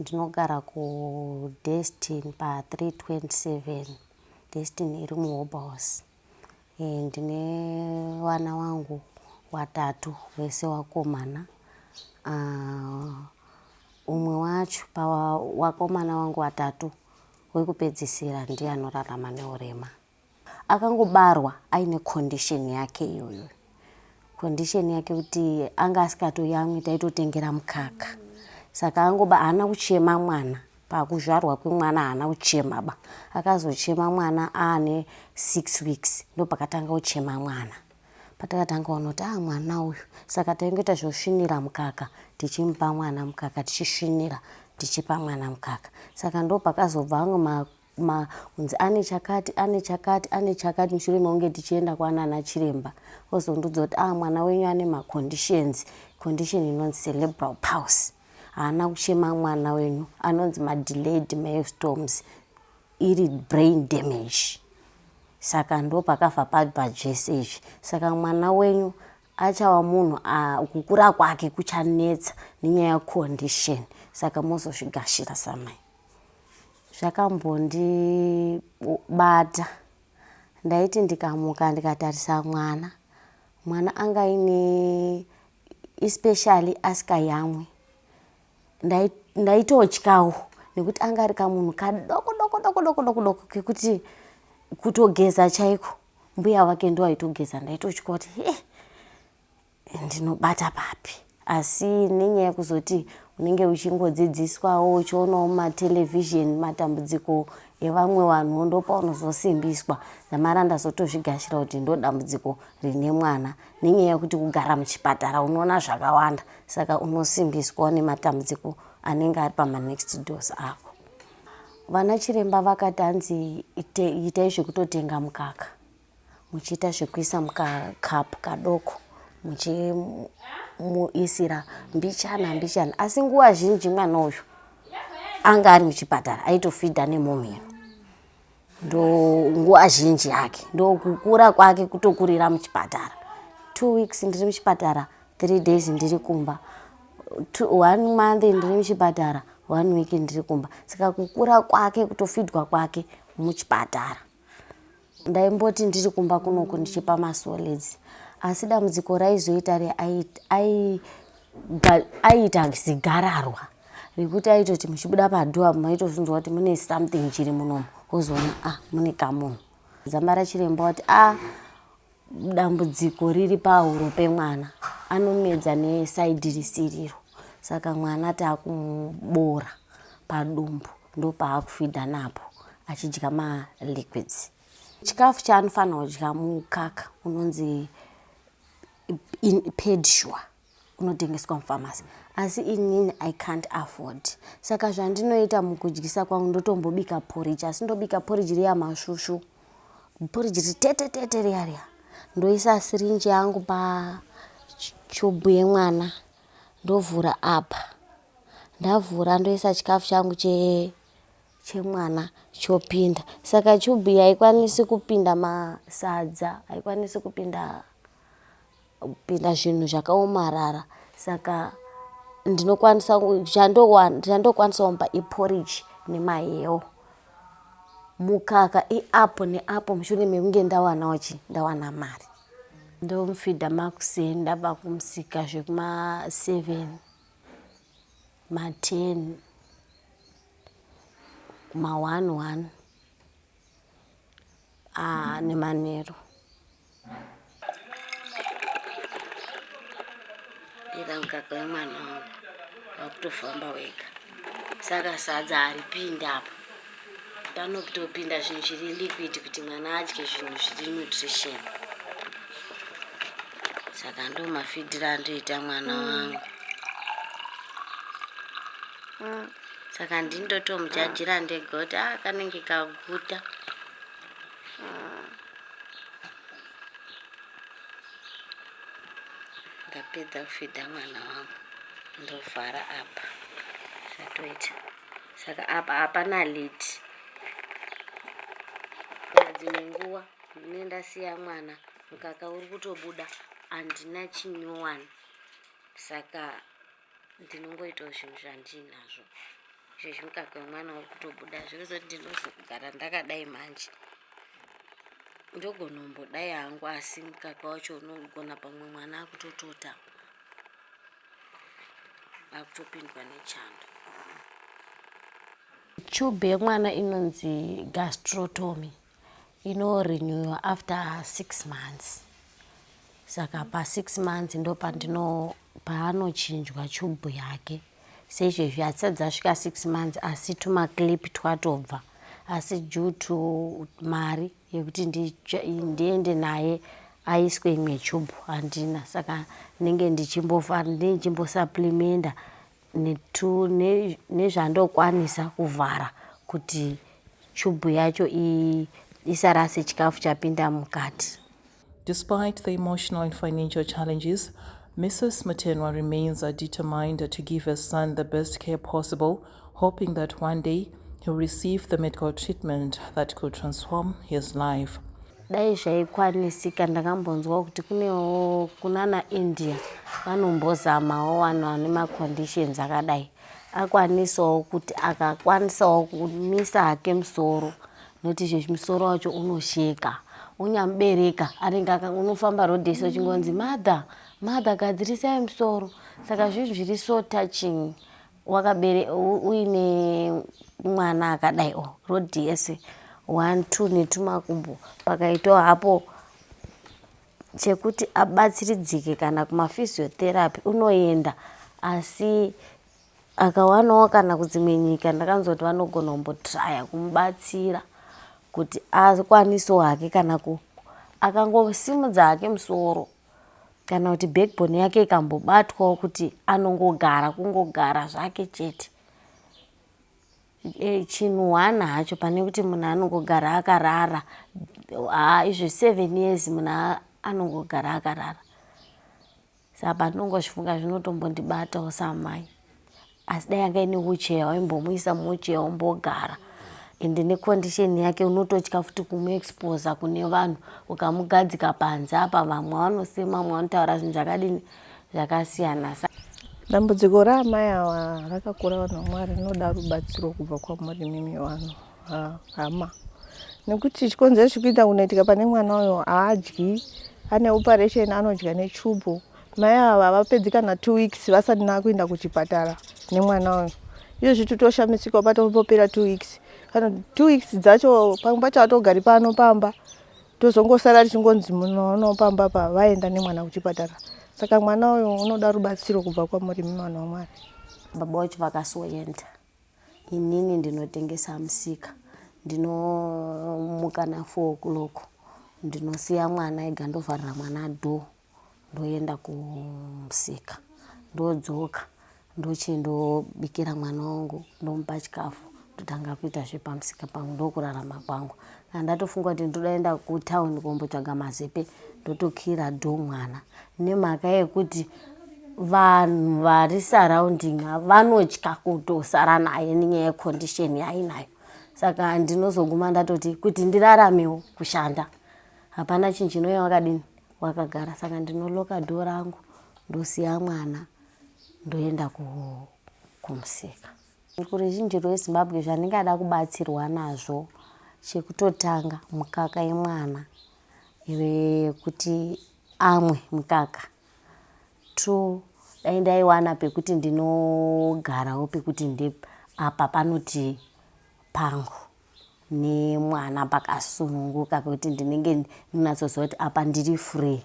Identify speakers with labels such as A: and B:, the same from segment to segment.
A: Ndinogara ku Destin pa 327 Destin iri mu Hobhouse. Eh, ndine vana wangu watatu vese wakomana. Ah, umwe wacho pa wakomana wangu watatu wekupedzisira ndiye anorarama neurema. Akangobarwa aine condition yake iyoyo. Condition yake kuti anga asikatoyamwi taitotengera mukaka. Saka angoba haana kuchema mwana. Pakuzvarwa kwemwana haana kuchema ba. Akazochema mwana aane six weeks ndopakatanga kuchema mwana. Patakatanga kuona kuti ah mwana uyu. Saka taingoita zvekusvinira mukaka tichimupa mwana mukaka tichisvinira tichipa mwana mukaka. Saka ndopakazobva amwe ma ma kunzi ane chakati ane chakati ane chakati mushure mekunge tichienda kwanana chiremba ozondiudza kuti ah mwana wenyu ane maconditions condition inonzi cerebral pulse haana kuchema mwana wenyu anonzi madelayed mailstorms iri brain damage saka ndo pakabva pabva zvese izvi saka mwana wenyu achava munhu kukura kwake kuchanetsa nenyaya yecondition saka mozozvigashira samai zvakambondibata ndaiti ndikamuka ndikatarisa mwana mwana anga aine especially asikayamwe ndaitotyawo nekuti anga ari kamunhu kadoko doko doko doko doko doko kekuti kutogeza chaiko mbuya wake ndo aitogeza ndaitotya kuti he ndinobata papi asi nenyaya yekuzoti unenge uchingodzidziswawo uchionawo mumatelevision matambudziko evamwe vanhu ndopaunozosimbiswa ndamara ndazotozvigashira kuti ndodambudziko rine mwana nenyaya yekuti kugara muchipatara unoona zvakawanda saka unosimbiswa nematambudziko anenge ari pamanext dos ako vana chiremba vakati hanzi itai zvekutotenga mukaka muchiita zvekuisa mukacup kadoko muchimuisira mbichana mbichana asi nguva zhinji mwana uyu anga ari muchipatara aitofidha nemomhino ndo nguva zhinji yake ndokukura kwake kutokurira muchipatara two weeks ndiri muchipatara three days ndiri kumba one month ndiri muchipatara one week ndiri kumba saka kukura kwake kutofidwa kwake muchipatara Ndaimboti ndiri kumba kunoku ndichipa masolids asi dambudziko raizoita reaiita zigararwa rekuti aitoti muchibuda padhuwa maitozvinzwa kuti mune something chiri munomu wozoona ah mune kamunhu dzambara chiremba wati ah dambudziko riri pahuro pemwana anomedza nesaidhi risiriro saka mwana taakumuboora padumbu ndopaakufidha napo achidya maliquids chikafu chaanofanira kudya mukaka unonzi pedi sure unotengeswa mufamasi asi inini i can't afford saka zvandinoita mukudyisa kwangu ndotombobika poriji asi ndobika poriji riya masvusvu poriji ritete tete riya riya ndoisa sirinji yangu pachubhu yemwana ndovhura apa ndavhura ndoisa chikafu changu che chemwana chopinda saka chubhu yaikwanisi kupinda masadza haikwanisi kupinda kupinda zvinhu zvakaomarara saka ndinokwanisa chandokwanisawo mba iporridge nemahewo mukaka iapo neapo mushure mekunge ndawanawo chi ndawana mari ndomufidha makuseni ndabva kumusika zvekumaseven maten maone one ah, nemanheru ira mukaka wemwana wangu wakutofamba wega saka sadza haripindi apa panotopinda zvinhu zviri liquid kuti mwana adye zvinhu zviri nutrition saka ndo mafidiro andoita mwana mm. wangu mm. saka ndindotomujajira ndegoti a ah, kanenge kaguta ndapedza kufidha mwana wangu ndovhara apa zvatoita saka apa hapana liti dzimwe nguva mune ndasiya mwana mukaka uri kutobuda handina chinyowani saka ndinongoitawo zvinhu zvandiinazvo izvezvi mukaka wemwana uri kutobuda zvirizoti ndinozogara ndakadai manje ndogonombodai hangu asi mukaka wacho unogona pamwe mwana akutotota akutopindwa nechando chube yemwana inonzi gastrotomy inorenewiwa after six months saka pasix months ndo pandino paanochinjwa chubhu yake seizvezvi hatisati dzasvika six months asi tumaclip twatobva asi due to mari yekuti ndiende naye aiswe imwe chubhu handina saka ndinenge ndichimbofa ndichimbosaplimenda nezvandokwanisa kuvhara kuti chubhu yacho isarase chikafu chapinda mukati. Despite
B: the emotional and financial challenges, Mrs. Mutenwa remains determined to give her son the best care possible, hoping that one day he'll receive the medical treatment that could transform his life. Dai
A: zvaikwanisika ndakambonzwawo kuti kunewo kunana India vanombozamawo vanhu vane maconditions akadai akwanisawo kuti akakwanisawo kumisa hake musoro noti izvezvi musoro wacho unosheka unyamubereka anenge unofamba road yese uchingonzi mother mother gadzirisai musoro saka zvinhu zviri so touching wakabere uine mwana akadai o road yese one two netumakumbo pakaitawo hapo chekuti abatsiridzike kana kumaphysiotherapy unoenda asi akawanawo kana kudzimwe nyika ndakanzwa kuti vanogona kumbotraya kumubatsira kuti akwanisewo hake kana ku akangosimudza hake musoro kana kuti backbone yake ikambobatwawo kuti anongogara kungogara zvake chete e, chinhu hwana hacho pane kuti munhu anongogara akarara haa izvo seven years munhu anongogara akarara sa pandongozvifunga zvinotombondibatawo samai asi dai anga ine wheelchair waimbomuisa muwheelchair ombogara ende necondition yake unototya futi kumuexposa kune vanhu ukamugadzika panze apa vamwe vanosema vamwe vanotaura zvinhu zvakadini zvakasiyana sa dambudziko
C: raamai awa rakakura vanhu vamwari rinoda rubatsiro kubva kwamuri mimi vanhu hama nekuti chikonzero chikuita kunoitika pane mwana uyo haadyi ane operation anodya nechubu Mai ava havapedzi kana two weeks vasati nakuenda kuchipatara nemwana uyu iyo zviti toshamisika patopopera two weeks kana two weeks dzacho pamwe pacho atogari pano pamba tozongosara tichingonzi munono pamba pa vaenda nemwana kuchipatara saka mwana uyu unoda rubatsiro kubva kwamuri mimwana wamwari baba wacho
A: vakasoenda inini ndinotengesa musika ndinomuka na four o'clock ndinosiya mwana ega ndovharira mwana dhoo ndoenda kumusika ndodzoka ndochindobikira mwana wangu ndomupa chikafu ndotanga kuita zvepamusika pangu ndokurarama kwangu kana ndatofunga kuti ndodaenda kutown kumbotsvaga mazepe ndotokira do mwana nemhaka yekuti vanhu vari surrounding vanotya kutosara naye nenyaya yecondition yaainayo saka ndinozoguma ndatoti kuti ndiraramewo kushanda hapana chinhu chinoya wakadini wakagara saka ndinoloka door rangu ndosiya mwana ndoenda kumusika kuruzhinji rwezimbabwe zvandingada kubatsirwa nazvo chekutotanga mukaka yemwana yekuti amwe mukaka two dai ndaiwana pekuti ndinogarawo pekuti ndeapa panoti pangu nemwana pakasununguka pekuti ndinenge ndinatsoziva kuti apa ndiri free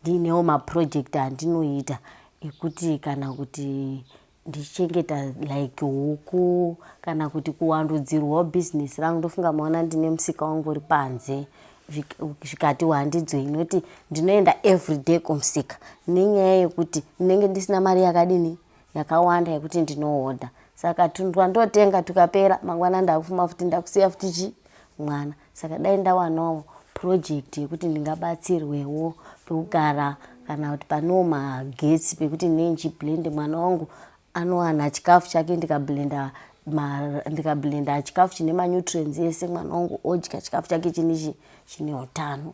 A: ndiinewo maproject andinoita ekuti kana kuti ndichengeta like huku kana kuti kuwandudzirwawo business rangu ndofunga maona ndine musika wangu uri panze zvikati wandidzo inoti ndinoenda everyday kumusika nenyaya yekuti ndinenge ndisina mari yakadini yakawanda yekuti ndinohodha saka tunhu twandotenga tukapera mangwana ndakufuma futi ndakusiya futi chi mwana saka dai ndawanawo project yekuti ndingabatsirwewo pekugara kana kuti panewo magetsi pekuti ndine ndichiblend mwana wangu anowana chikafu chake ndikablenda ndikablenda chikafu chine manutrients ese mwana wangu odya chikafu chake chine chine utano